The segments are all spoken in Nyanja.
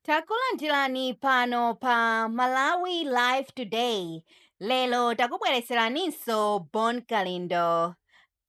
Takulandirani pano pa Malawi Live Today. Lero takubweretseraninso Bon Kalindo.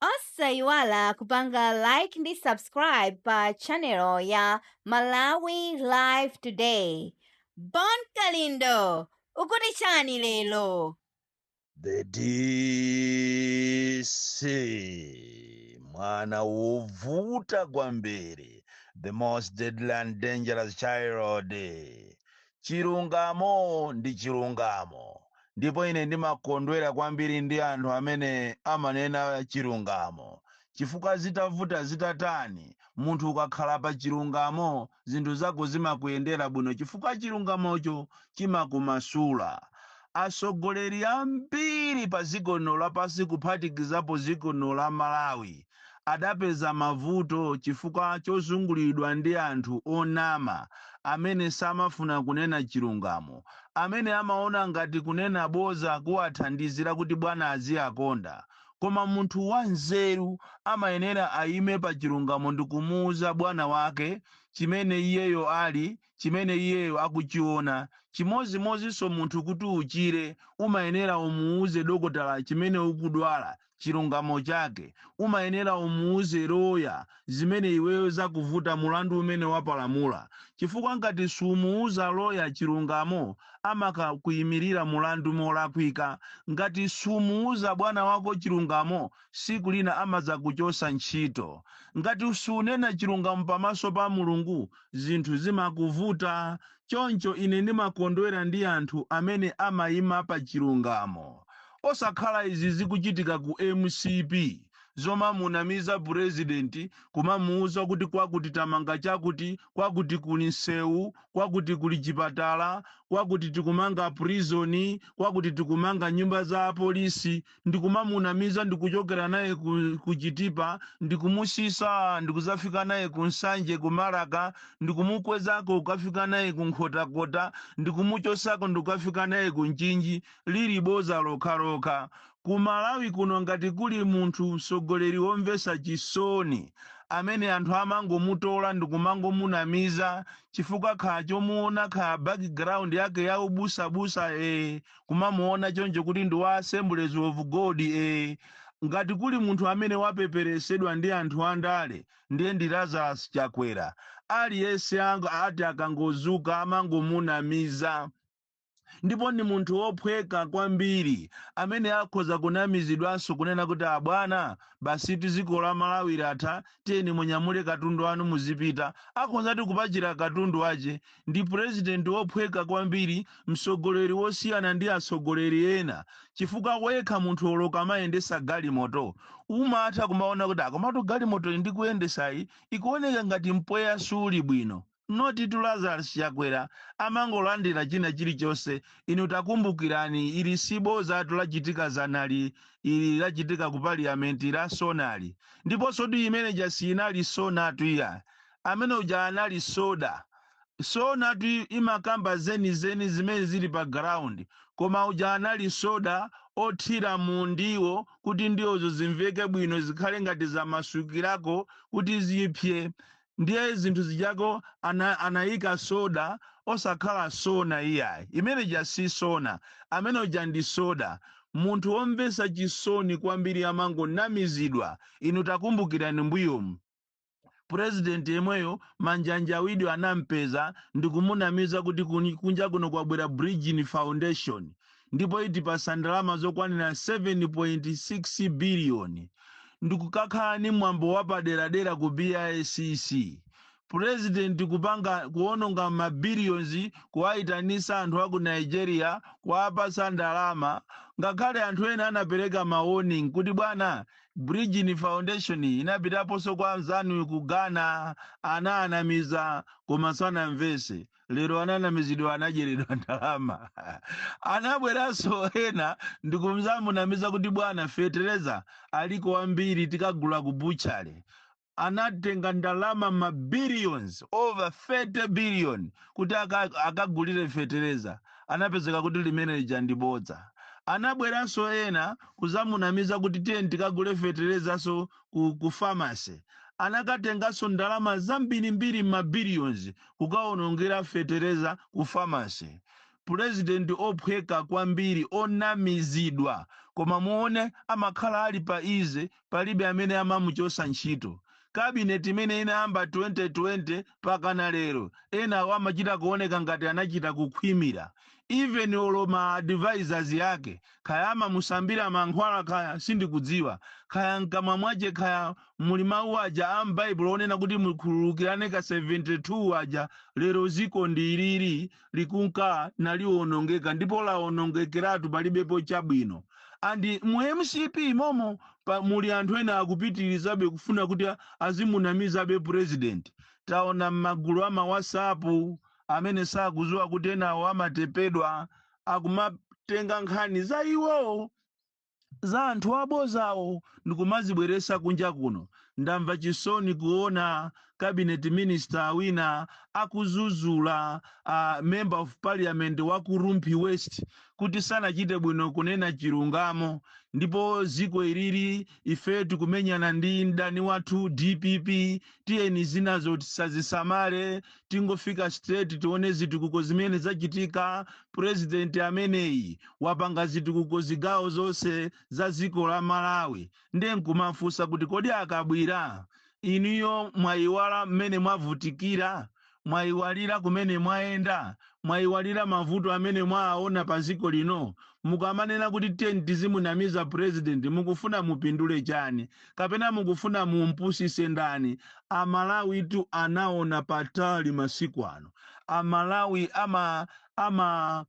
Osayiwala kupanga like ndi subscribe pa channel ya Malawi Live Today. Bon Kalindo, ukuti chani lero? the DC mwana wovuta kwambiri the most deadly and dangerous child chilungamo ndi chilungamo ndipo ine ndimakondwera kwambiri ndi anthu amene amanena chilungamo chifukwa zitavuta zitatani munthu ukakhala pa chilungamo zinthu zako zimakuyendera bwino chifukwa chilungamocho chimakumasula. Atsogoleri ambiri pa dziko lino lapansi kuphatikizapo dziko lino la Malawi adapeza mavuto chifukwa chozunguliridwa ndi anthu onama amene samafuna kunena chilungamo, amene amaona ngati kunena bodza kuwathandiza kuti bwana aziwakonda. Koma munthu wanzeru amayenera ayime pa chilungamo ndi kumuwuza bwana wake chimene iyeyo ali, chimene iyeyo akuchiona. Chimodzimodzinso munthu kuti uchire umayenera umuwuze dokotala chimene ukudwala, chilungamo chake. Umayenera umuwuze loya zimene iweyo zakuvuta mulandu umene wapalamula chifukwa ngati sumuuza lawyer chilungamo amakakuimilira mulandu molakwika ngati sumuuza bwana wako chilungamo siku lina amadzakuchosa ntchito ngati sunena chilungamo pamaso pa mulungu zinthu zimakuvuta choncho ine ndimakondwera ndi anthu amene amaima pachilungamo osakhala izi zikuchitika ku mcp zomamunamiza president kumamuuza kuti kwakuti tamanga chakuti kwakuti kuli nsewu kwakuti kuli chipatala kwakuti tikumanga prison kwakuti tikumanga nyumba za apolisi ndikumamunamiza ndikuchokera naye ku, ku chitipa ndikumusisa ndikuzafika naye ku nsanje ku marka ndikumukwezako kukafika naye ku nkhotakota ndikumuchosako ndikukafika naye ku mchinji lili boza lokhalokha. Ku Malawi kuno ngati kuli munthu mtsogoleri womvetsa chisoni amene anthu amangomutola ndikumangomunamiza chifukwa kha chomuona kha background yake ya ubusabusa ee kumamuona choncho kuti ndi wa Assemblies of God ee ngati kuli munthu amene wapeperesedwa ndi anthu andale ndiye ndi Lazarus Chakwera. Aliyense ang ati akangozuka amangomunamiza. ndipo ndi munthu wophweka kwambiri amene akhoza kunamizidwanso kunena kuti abwana basitu dziko la malawi latha tiyeni munyamule katundu wanu muzipita akhozadi kupachira katundu wache ndi purezidenti wophweka kwambiri mtsogoleri wosiyana ndi atsogoleri ena chifukwa wekha munthu olo ukamayendesa galimoto umatha kumaona kuti akomatu galimotoyi ndikuyendesayi ikuoneka ngati mpweya suli bwino Not itu Lazarus Chakwera amangolandila china chilichonse inu takumbukirani ili sibozatu lachitika dzanali ili lachitika ku parliament la sonali ndiponsotu imene ija siinali sonatu iyayi amene uja anali soda sonatu imakamba zenizeni zimene zili pa ground koma uja anali soda othira mu ndiwo kuti ndiwozo zimveke bwino zikhale ngati zamasukirako kuti zipse ndiye zinthu zijazo ana, anayika soda osakhala sona iyayi imene ija si sona amene uja ndi soda munthu womvesa chisoni kwambiri amangonamizidwa inu takumbukirani mbuyomu purezidenti yemweyo manjanja wide anampeza ndikumunamiza kuti kuni- kunja kuno kwabwera bridgin foundation ndipo itipasa ndalama zokwanira 7.6 billion ndikukakhala ndi mwambo wapaderadera ku BICC president kupanga kuononga ma billions kuwaitanisa anthu aku Nigeria kuwapasa ndalama ngakhale anthu ena anapereka ma warning kuti bwana Bridgin Foundation inapitaponso kwa anzanu ku Ghana anaanamiza koma sanamvese lero ananamizidwa anadyeredwa ndalama anabweranso ena ndikuzamunamiza kuti bwana fetereza aliko wambiri tikagula ku butchery anatenga ndalama ma billions over 30 billion kuti aka- akagulire fetereza anapezeka kuti limene lija ndi bodza anabweranso ena kuzamunamiza kuti tiyeni tikagule feterezanso ku, ku pharmacy anakatenganso ndalama zambirimbiri ma billions kukaonongera fetereza ku pharmacy president ophweka kwambiri onamizidwa koma muone amakhala ali pa ease palibe amene amamuchosa ntchito kabineti imene inayamba 2020 mpakana lero enawo amachita kuoneka ngati anachita kukhwimira even olo ma advisors yake Kaya amamusambira mankhwala kaya, sindikudziwa. Kaya m'kamwa mwache kaya muli mau aja a m'Baibulo onena kuti mukhululukirane ka 72 aja, lero ziko ndi ili lili, likunka nalionongeka ndipo laonongekeratu palibepo chabwino. And mu mcp momo pa, muli anthu ena akupitirizabe kufuna kuti a- azimunamizabe president. Taona m'magulu a ma WhatsApp amene sakuziwa kuti enawo amatepedwa akumatenga nkhani za iwowo za anthu abozawo ndikumazibweresa kunja kuno ndamva chisoni kuona cabinet minister wina akuzuzula uh, member of parliament wa ku rumphi west kuti sanachite bwino kunena chilungamo ndipo ziko ili lili ife tikumenyana ndi mdani wathu dpp tiyeni zinazo tisazisamale tingofika straight tione zitukuko zimene zachitika president ameneyi wapanga zitukuko zigawo zonse za dziko la malawi ndiye nkumafunsa kuti kodi a Kabwira inuyo mwayiwala mmene mwavutikira Mwaiwalira kumene mwayenda? Mwaiwalira mavuto amene mwaaona pa dziko lino? Mukamanena kuti tiyeni tizimunamiza president mukufuna mupindule chani? Kapena mukufuna mumpusitse ndani? A Malawitu anaona patali masiku ano. A Malawi ama ama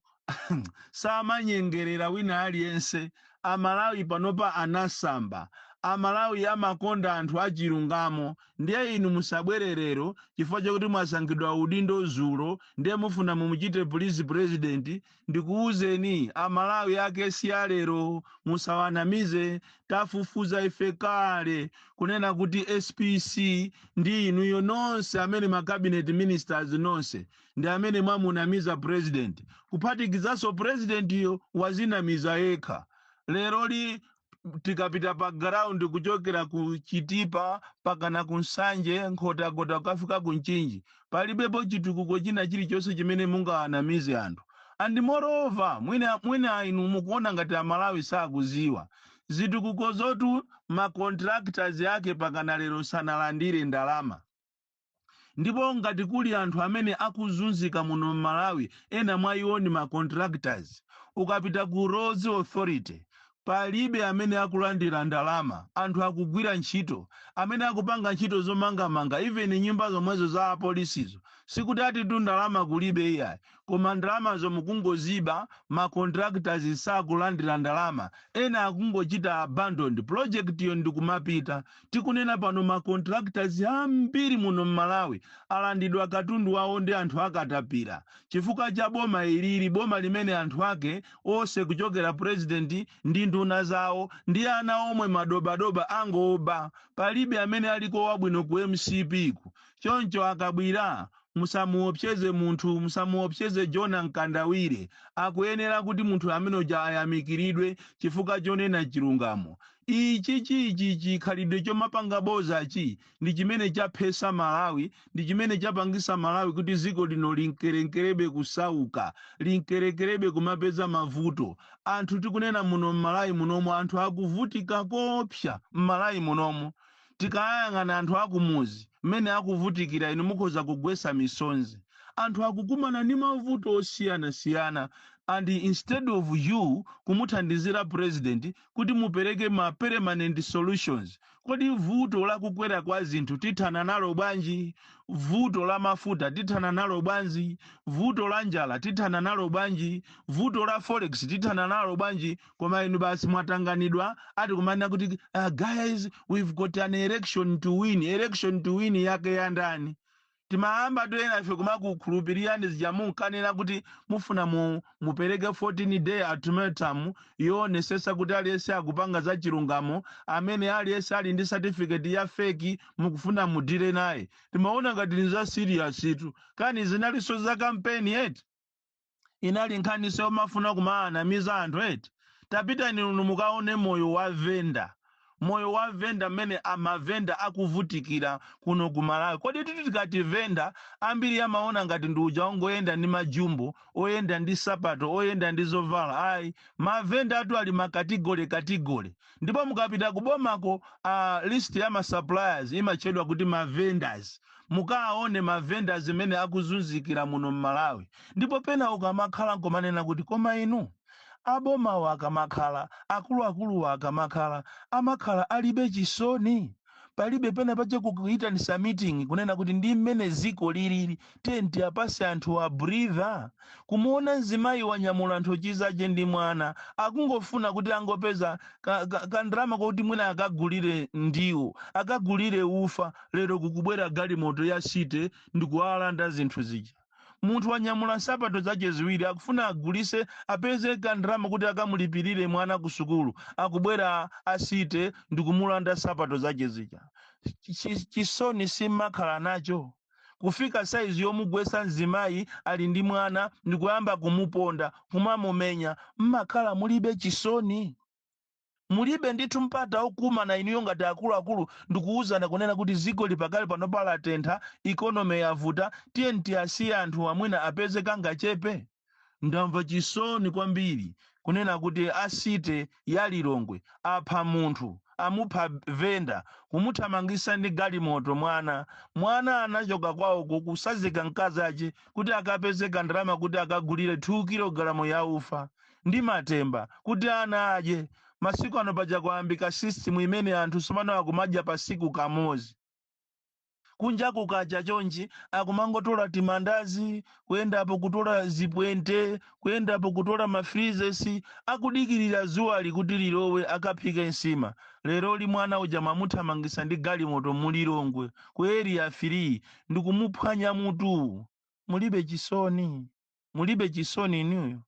samanyengerera wina aliyense, amalawi panopa anasamba, amalawi amakonda anthu achilungamo, ndiye inu musabwere lero chifukwa chakuti mwasankhidwa udindo zulo ndiye mufuna mumuchite please president, ndikuuzeni amalawi ake si a lero, musawanamize, tafufuza ife kale kunena kuti spc ndi inuyo nonse amene ma cabinet ministers nonse ndi amene mwamunamiza president kuphatikizanso presidentiyo wazinamiza yekha leroli tikapita pa ground kuchokera ku chitipa pakana ku nsanje nkhotakota kukafika ku nchinji palibepo chitukuko china chilichonse chimene mungawanamize anthu and moreover mwina mwina inu mukuona ngati amalawi sakuziwa zitukukozotu ma contractors ake pakana lero sanalandire ndalama Ndipo ngati kuli anthu amene akuzunzika muno mmalawi ena mwa iwo ndi ma contractors. Ukapita ku roads authority palibe amene akulandira ndalama anthu akugwira ntchito. Amene akupanga ntchito zomangamanga even nyumba zomwezo za apolisizo sikuti atitu ndalama kulibe iyayi. koma ndalamazo mukungoziba, ma contractors sakulandira ndalama, ena akungochita abandoned project yo ndikumapita. Tikunena pano ma contractors ambiri muno m'Malawi alandidwa katundu wawo ndi anthu a katapira chifukwa cha boma ilili, boma limene anthu ake ose kuchokera president ndi nduna zawo ndi ana omwe madobadoba angoba. Palibe amene aliko wabwino ku mcp ku. Choncho a Kabwira Musamuopseze munthu, musamuopseze Jonah Mkandawire. Akuyenera kuti munthu amene uja ayamikiridwe chifukwa chonena chilungamo. Ichi chi chi chikhalidwe chomapanga bozachi ndi chimene chaphesa Malawi, ndi chimene chapangisa Malawi kuti ziko lino limkeremkerebe kusauka, limkerekerebe kumapeza mavuto. Anthu tikunena muno m'Malawi munomu anthu akuvutika koopsa m'Malawi munomu. Tikayang'ana anthu a kumuzi mmene akuvutikira inu mukhoza kugwetsa misonzi. Anthu akukumana ndi mavuto osiyanasiyana and instead of you kumuthandizira president kuti mupereke ma permanent solutions. Kodi vuto la kukwera kwa zinthu tithana nalo bwanji? Vuto la mafuta tithana nalo bwanji? Vuto la njala tithana nalo bwanji? Vuto la forex tithana nalo bwanji? koma inu basi mwatanganidwa ati kumanena kuti uh, guys we've got an election to win election to win yake ya ndani timayambatu enafe kumakukhulupirirani zija munkanena kuti mufuna mu, mupereke 14 day ultimatum yowonesesa kuti aliyense akupanga za chilungamo amene aliyense ali ndi certificate ya feki mukufuna mu deal naye timaona ngati ni za serious tu kani zinalinso za kampeni yeti inali nkhaniso yomafuna kumaanamiza anthu eti tapitani inu mukaone moyo wa venda moyo wa venda mmene mavenda akuvutikira kuno ku malawi kodi titi tikati venda ambiri amaona ngati ndi uja ongoyenda ndi majumbo oyenda ndi sapato oyenda ndi zovala ayi mavendawatu ali m'makatigole katigole ndipo mukapita kubomako list ya ma suppliers imatchedwa kuti ma vendors mukaone ma vendors mmene akuzunzikira muno mmalawi ndipo pena ukamakhala n'kumanena kuti koma inu a bomawa akamakhala akuluakuluwa akamakhala amakhala alibe chisoni palibe pena paja kuitanisa meeting kunena kuti ndi mmene ziko lilili tiye tiapase anthu a breather kumuona mzimayi wanyamula nthochi zake ndi mwana akungofuna kuti angopeza ka, ka, ka ndalama koti mwina akagulire ndiwo akagulire ufa lero kukubwera galimoto ya city ndikuwalanda zinthu zija munthu wanyamula nsapato zache ziwiri akufuna agulise apeze kandalama kuti akamulipirire mwana ku sukulu akubwera a city ndikumulanda nsapato zache zija Chi- chisoni simmakhala nacho kufika saizi yomugwesa mzimayi ali ndi mwana ndikuyamba kumuponda kumamumenya mmakhala mulibe chisoni Mulibe ndithu mpata okumana inuyo ngati akuluakulu ndikuuzana kunena kuti zikoli pakali panopa latentha, economy yavuta, tiyeni tiasiye anthuwa mwina apeze kangachepe? Ndamva chisoni kwambiri kunena kuti a city ya Lilongwe apha munthu, amupha vendor, kumuthamangisa ndi galimoto mwana, mwana anachoka kwawoko kusazika mkazache kuti akapeze kandalama kuti akagulire 2 kilogalamu ya ufa. ndi matemba kuti ana adye. Masiku ano paja kwayambika system imene anthu tsopano akumadya pasiku kamodzi. Kunja kukacha chonchi akumangotola timandazi, kuyendapo kutola zipwente, kuyendapo kutola ma freezes, akudikirira dzuwali kuti lilowe akaphike nsima. Leroli mwana uja mwamuthamangitsa ndi galimoto mu Lilongwe ku Area 3 ndikumuphwanya mutu. Mulibe chisoni. mulibe chisoni inuyo?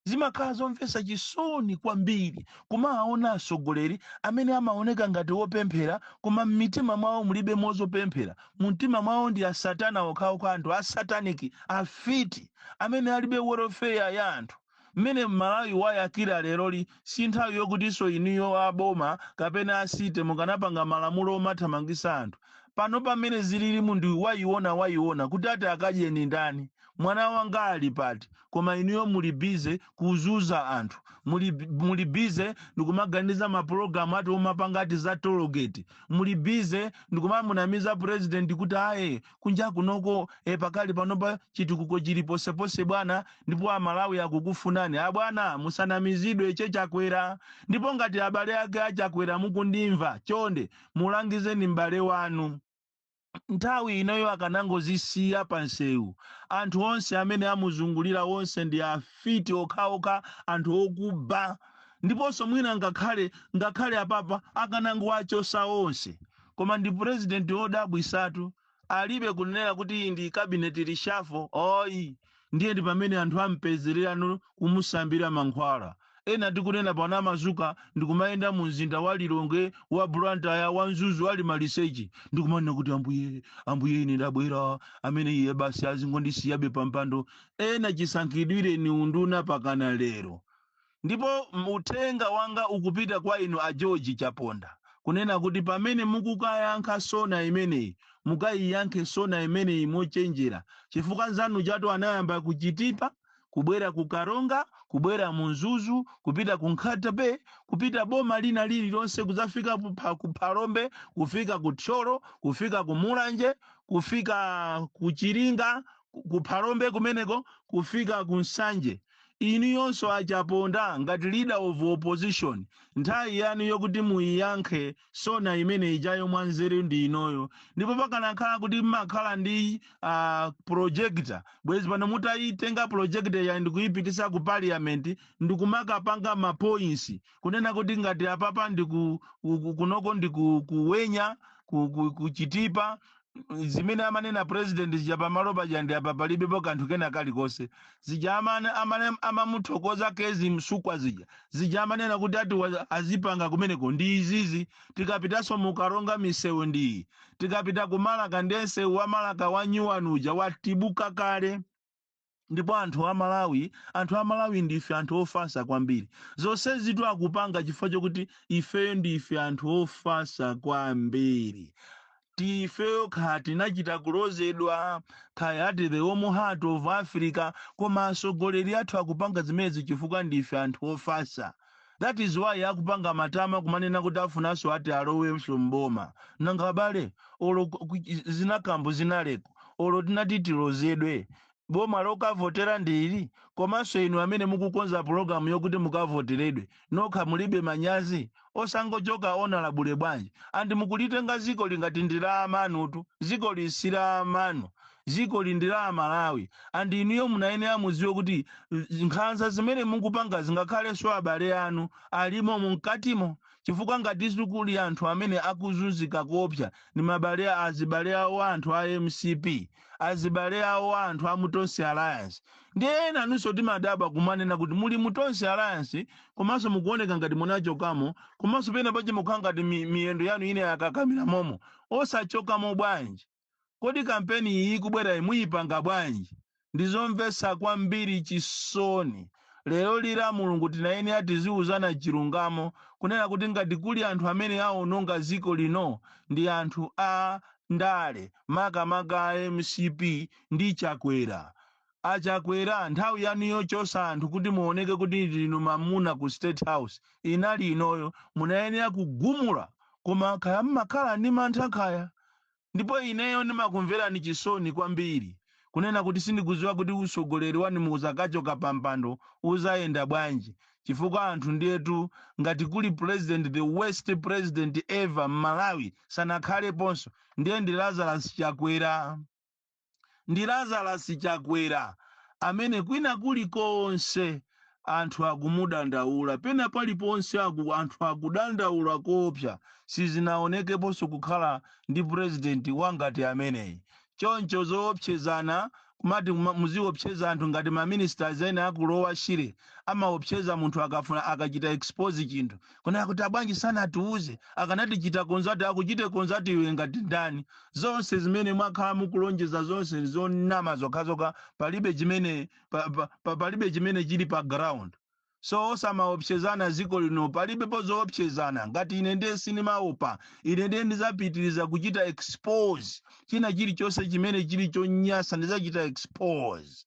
Zimakhala zomvetsa chisoni kwambiri kumawaona atsogoleri amene amaoneka ngati opemphera koma m'mitima mwawo mulibemo zopemphera. Mumtima mwawo ndi asatana okhaokha, anthu a satanic, afiti amene alibe welfare ya anthu. Mmene Malawi wayakira leroli sinthawi yokutinso inuyo a boma kapena a city mukanapanga malamulo omathamangisa anthu. Panopa mmene zililimu ndi wayiona wayiona kuti ati akadye ndani? Mwana wanga ali pati? Koma inuyo muli busy kuzuza anthu. Muli busy ndikumaganiza ma program ati omapanga ati za toll gate. Muli busy ndikumamunamiza president kuti aye. kunja kunoko e, pakali panopa chitukuko chili posepose bwana, ndipo amalawi akukufunani abwana, musanamizidwe che Chakwera. Ndipo ngati abale ake a Chakwera mukundimva, chonde mulangizeni m'bale wanu nthawi inoyo akanangozisiya pa nsewu. Anthu onse amene amuzungulira onse ndi afiti okhaokha, anthu okuba, ndiponso mwina ngakhale ngakhale apapa akanangowachosa onse. koma ndi president wodabwisatu alibe kunenera kuti iyi ndi cabinet reshuffle oyi ndiye ndi pamene anthu ampezerera no kumusambira mankhwala ena tikunena pano amazuka ndikumayenda mu mzinda wa lilongwe wa blantyre wa mzuzu ali maliseche ndikumanena kuti ambuye ambuye ine ndabwera amene iye basi azingondisiyabe pampando ena chisankhidwireni unduna pakana lero Ndipo uthenga wanga ukupita kwa inu a George Chaponda kunena kuti pamene mukukayankha sona imeneyi mukayiyankhe sona imeneyi mochenjera chifukwa nzanujatu anayamba ku Chitipa kubwera ku Karonga kubwera mu Mzuzu kupita ku Nkhata Bay kupita boma lina lililonse kudzafika ku Phalombe kufika ku Thyolo kufika ku Mulanje kufika ku Chiringa ku Phalombe kumeneko kufika ku Nsanje Inuyonso a Chaponda ngati leader of opposition nthawi yanu yokuti muyiyankhe sona imene ijayo mwa nzeru ndi inoyo ndipo pakanakhala kuti mmakhala ndi uh, projector bwezi pano mutayitenga projectoryo ndikuyipitisa ku parliament ndikumakapanga ma points kunena kuti ngati apapa ndiku ku- ku- kunoko ndiku ku Wenya ku, ku, ku Chitipa zimene amanena president zija pamalo paja ndi apa palibepo kanthu kena kalikonse zija amane, amane, amamuthokoza Kezzie Msukwa zija zija amanena kuti ati wa- azipanga kumeneko ndi izizi tikapitanso mu Karonga misewu ndi iyi tikapita ku Malaka ndiye msewu wa Malaka wa nyuwani uja wathibuka kale Ndipo anthu a Malawi, anthu a Malawi ndife anthu ofasa kwambiri. Zonsezitu akupanga chifukwa chokuti ifeyo ndife anthu ofasa kwambiri. Ifeyo kaya tinachita kulozedwa, kaya ati the warm heart of Africa, koma atsogoleri athu akupanga zimenezi chifukwa ndife anthu ofasa. that is why akupanga matama kumanena kuti afunanso ati alowenso m'boma. Nanga abale olo ku- ku- zina kambo zinalekeni olo tinati tilozedwe boma lokavotera ndi ili komanso inu amene mukukonza pulogalamu yokuti mukavoteredwe nokha mulibe manyazi osangochoka honourable bwanji and mukulitenga ziko ili ngati ndi la amanutu ziko ili si la amanu dzikoli ndi la aMalawi and inuyo munayenera mudziwe kuti nkhanza zimene mukupangazi ngakhalenso abale anu ali momo mkatimo chifukwa ngati kuli anthu amene akuzunzika koopsa ndi mabale a- azibale awo a anthu a MCP azibale awo a anthu a mu Tonse Alliance ndiye ena inunso timadabwa kumanena kuti muli mu Tonse Alliance komanso mukuoneka ngati munachokamo komanso pena pake mukukhala ngati mi- miyendo yanu ine yakakamira momo osachokamo bwanji Kodi kampeni iyi ikubwerayi muyipanga bwanji? Ndizomvetsa kwambiri chisoni. Leroli la Mulungu tinayenera tiziuzana chilungamo kunena kuti ngati kuli anthu amene awononga dziko lino ndi anthu a ndale makamaka a MCP ndi Chakwera. A Chakwera nthawi yanu yochotsa anthu kuti muoneke kuti ndinu mamuna ku state house inali inoyo munayenera kugumula. Koma kaya mmakhala ndi mantha kaya? ndipo ineyo ndimakumvelani chisoni kwambiri kunena kuti sindikuziwa kuti usogoleri wanuwu uzakachoka pampando uzayenda bwanji chifukwa anthu ndiyetu ngati kuli president the worst president ever m'Malawi sanakhaleponso ndiye ndi Lazarus Chakwera. ndi Lazarus Chakwera amene kwina kulikonse anthu akumudandaula, pena paliponse aku, anthu akudandaula koopsa, sizinaonekeponso kukhala ndi president wangati ameneyi. Choncho zoopsezana kumati kuma- muziopseza anthu ngati ma minister ena aku Lower Shire amaopseza munthu akafuna akachita expose chinthu Kunena kuti abwanji sanatiuze, akanatichita contact akuchite contact iwe ngati ndani? Zonse zimene mwakhala mukulonjeza zonse zonama zokhazokha palibe chimene pa, pa, pa, palibe chimene chili pa ground. So osamaopsezana dziko lino palibepo zoopsezana ngati ine ndiye sinimaopa ine ndiye ndizapitiriza kuchita expose china chilichonse chimene chili chonyasa ndizachita expose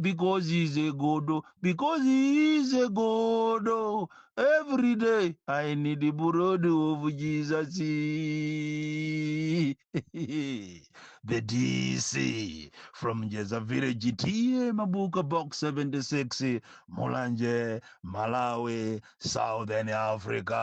because he is a godo because he is a godo every day i need the blood of jesus the dc from jeza village ta mabuka box 76 mulanje malawi southern africa